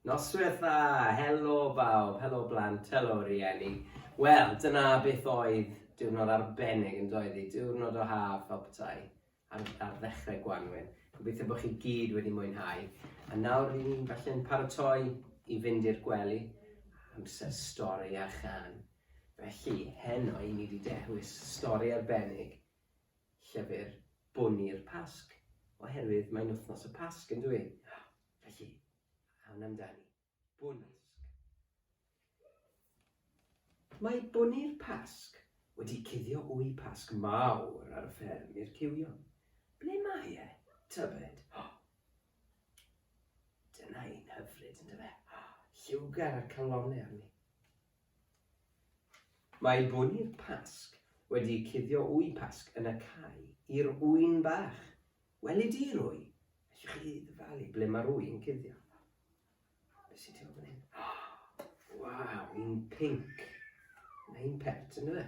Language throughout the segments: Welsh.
Noswyl dda! Helo bawb, helo blant, helo rieni. Wel, dyna beth oedd diwrnod arbennig yn doedd hi, diwrnod o haf fel petai ar, ar ddechrau Gwanwyn. Gobeithio bod chi gyd wedi mwynhau. A nawr rydyn ni'n falle'n paratoi i fynd i'r gwely, amser stori a chan. Felly, heno i ni wedi dewis stori arbennig llyfr bwn i'r Pasg, oherwydd mae'n wythnos y Pasg yn dwy? Felly, awn amdani. Bwn i'r Pasg. Mae bwn i'r Pasg wedi cuddio wy Pasg mawr ar y fferm i'r cywion. Ble mae e, tybed? Dyna un hyfryd, yndyfe? Lliwgar a'r calonne arni. Mae bwri'r Pasg wedi cuddio ŵy Pasg yn y cae i'r ŵyn bach. Weli di'r ŵy? Ellwch chi ddyfalu ble mae'r ŵy yn cuddio? Be sy'n tu ôl fan hyn? Waw, un pinc. Mae un pert yn yna.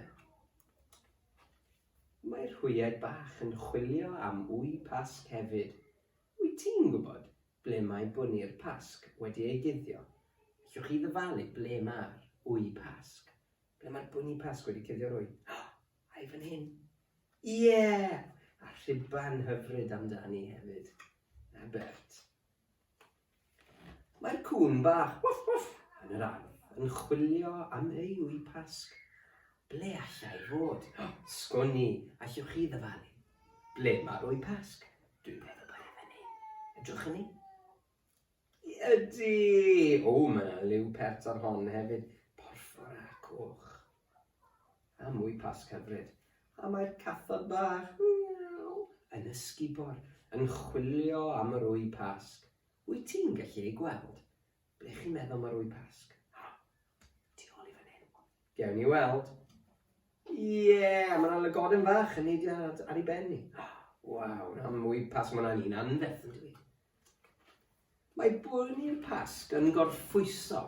Mae'r hwyaid bach yn chwilio am ŵy Pasg hefyd. Wyt ti'n gwybod ble mae bwni'r Pasg wedi ei guddio? Allwch chi ddyfalu ble mae'r Wy Pasg? Ble mae'r bwni Pasg wedi cuddio'r wy? O! A i fan hyn! Ie! A rhuban hyfryd amdani hefyd. Na Bert? Mae'r cŵn bach, woof woof, yn yr ardd yn chwilio am ei ŵy Pasg. Ble allai fod? O, sgwn i, allwch chi ddyfalu? Ble mae'r ŵy Pasg? Dwi'n meddwl bod e fan hyn. Edrychwn ni? Ydy! O, mae yna liw pert ar hon hefyd. Porffor a coch. A mwy Pasg hyfryd. A mae'r cathod bach, miaw, yn ysgubor, yn chwilio am yr Wy Pasg. Wyt ti'n gallu ei gweld? Ble chi'n meddwl mae'r Wy Pasg? Ha! Tu ôl i fan hyn. Gewn ni weld. Ie, a mae yna lygoden fach yn neidio ar ei ben ni. Waw, na mwy Pasg, mae yna'n un anferth yn dweud. Mae bwrw i'r Pasg yn gorffwyso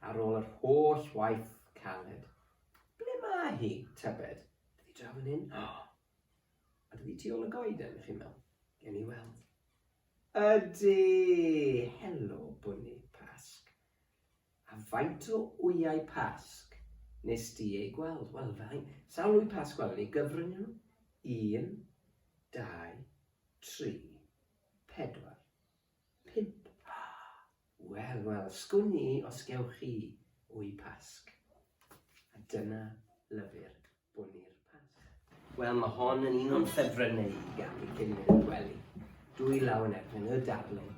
ar ôl yr holl waith caled. Ble mae hi, tybed? Ydi draw fan hyn? O! A dydi ti ôl y goeden, chi'n meddwl? Gen i weld. Ydy! Helo, bwrw Pasg. A faint o wyau Pasg nes di ei gweld? Wel, fai, sawl wy Pasg gwelwn ni? Gyfrwng nhw? Un, dau, tri. Pedwar. Pump. Ah! Wel, wel, sgwn i os gewch chi wy Pasg. A dyna lyfr bwni'r Pasg. Wel, mae hon yn un o'n ffefrynnau i gael cyn mynd i'r gwely. Dwy law yn erbyn y darlun.